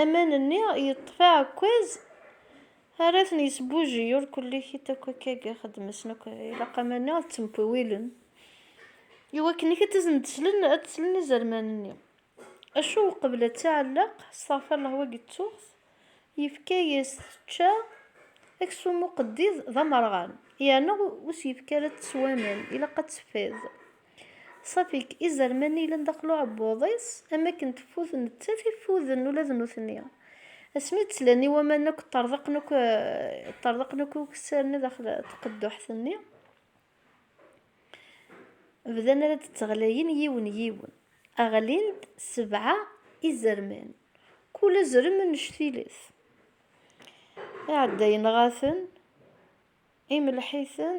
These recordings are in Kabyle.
Aman-nni yeṭṭef aɛekkaz ara ten-yesbuji, ur kullikit akk akka i ixeddem-asen akk, ilaq aman-nni ad ttemwiwilen i wakken ad asen-d-slen, ad d-slen izerman-nni. Acu uqbel ad tɛelleq, asteɣfirellah wagi d tuɣt, yefka-yas tečča, aksum uqeddid d amerɣan, yeɛna ur s-yefki ara ad teswa aman, ilaq ad teffiḍ. Ṣafik, izerman yellan daxel uɛebbuḍ-is, am wakken teffud nettat i ffuden ula d nutni. Asmi d-ttlan i waman akk, ṭṭerḍeqen akk, ṭṭerḍeqen akk iweksanen daxel tqedduḥt-nni, bdan ara d-tteɣlayen yiwen yiwen. Ɣlin-d sebɛa izerman, kul azrem annect-iles. Iɛeddayen ɣaten, imelleḥ-iten,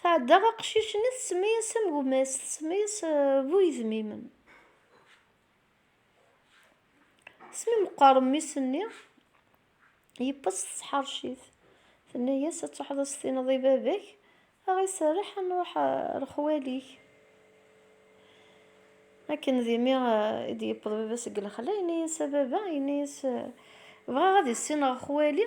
Tɛedda aqcic-nni tsemma-yas am gma-s, tsemma-yas bu yedmimen. Asmi meqqer mmi-s-nni, yeppes tesḥercit. Tenna-yas ad truḥeḍ ad s-tiniḍ i baba-k, ad ɣ-iserreḥ ad nruḥ ar xwali-k. Akken d imi i d-yewweḍ baba seg lexla, yenna-yas a baba, yenna-yas bɣiɣ ad issineɣ xwali,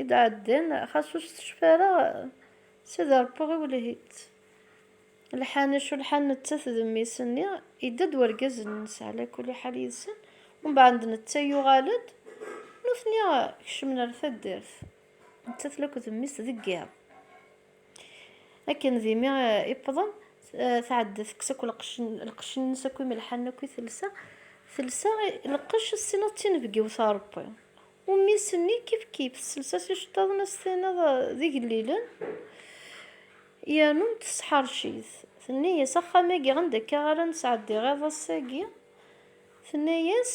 i d-ɛeddan, xas ur s-tecfi ara, s ad ṛebbuɣ i wlehhi-tt. Lḥan, acu lḥan nettat d mmi-s-nni, yedda-d wergaz-nnes ɛla kulli ḥal yid-sen, umbeɛd netta yuɣal-d, nutni kecmen ar taddart, nettat la akked mmi-s deg yiḍ. Akken d imi i wwḍen, tɛedda tekkes akk lqecc-nnes akk imelḥanen akk i telsa. Telsa lqecc, tessineḍ d tinebgiwt a Rebbi. Ummis-nni kifkif, tessels-as iceṭṭiḍen ad s-tiniḍ d igellilen, yernu tesḥerc-it. Tenna-as, Axxam-agi anda akka ara nesɛeddi iḍ ass-agi? Tenna-as,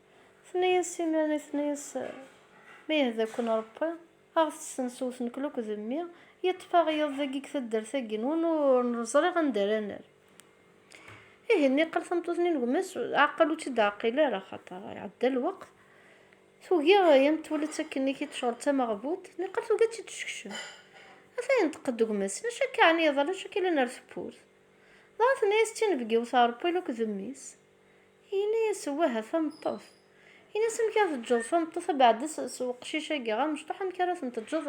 Tenna-yas simmal i tenna-yas, Ma yehda-ken Ṛebbi, a ɣ-tessensew ur t-nekla akk d mmi, yeṭṭef-aɣ yiḍ dagi deg taddart-agi-nwen ur neẓriɣ anda ara nerr. Ihi niqal tameṭṭut-nni n gma-s, ɛeqqel ur tt-id-ɛeqqil ara, axaṭer iɛedda lweqt, tugi yan twala-tt akken i k-id-tecɣel d tameɣbudt, niqal tugi ad tt-id-teskcem. Ata yenṭeq-d deg gma-s, Acu akka ɛni iḍal, acu akka yellan ar tewwurt? Dɣa tenna-yas d tinebgiwt Ṛebbi akk d mmi-s. Yenna-yas, Wah a tameṭṭut. Yenna-as, Amek ara teǧǧeḍ tameṭṭut abeɛda s weqcic-agi? A mecṭuḥ, amek ara ten-teǧǧeḍ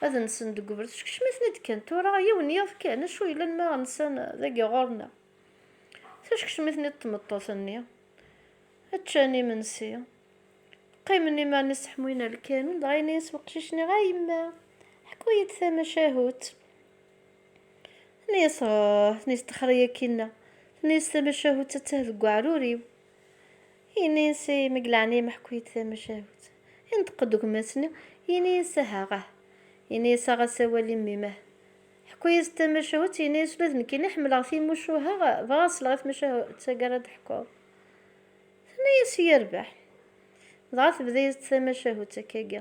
ad nsen deg ubrid? Skecmen-iten-id kan tura, yiwen n yiḍ kan, acu yellan ma nsan dagi ɣur-neɣ? Teskecmen-iten-id tmeṭṭut-nni, ččan imensi, qqimen iman iseḥmuyen ar lkanun, dɣa yenna-yas weqcic-nni, A yemma, ḥku-yi-d tamacahut. Tenna-yas, Ah, tenna-yas i akinna, tenna-yas tamacahut tattah deg uɛrur-iw. Yenna-yas i ma deg leɛnaya meḥku-yi-d tamacahut. Yenṭeq-d gma-s-nni, yenna-yas, Ahah-ah. Yenna-yas, Aɣ-as awal i mmi-m-ah. Ḥku-yas-d tamacahut, yenna-yas, Ula d nekkini ḥemmleɣ timucuha, bɣiɣ ad sleɣ i tmacahut tagi ara d-teḥkuḍ. Tenna-yas, Yerbeḥ. Dɣa tebda-yas-d tamacahut akkagi.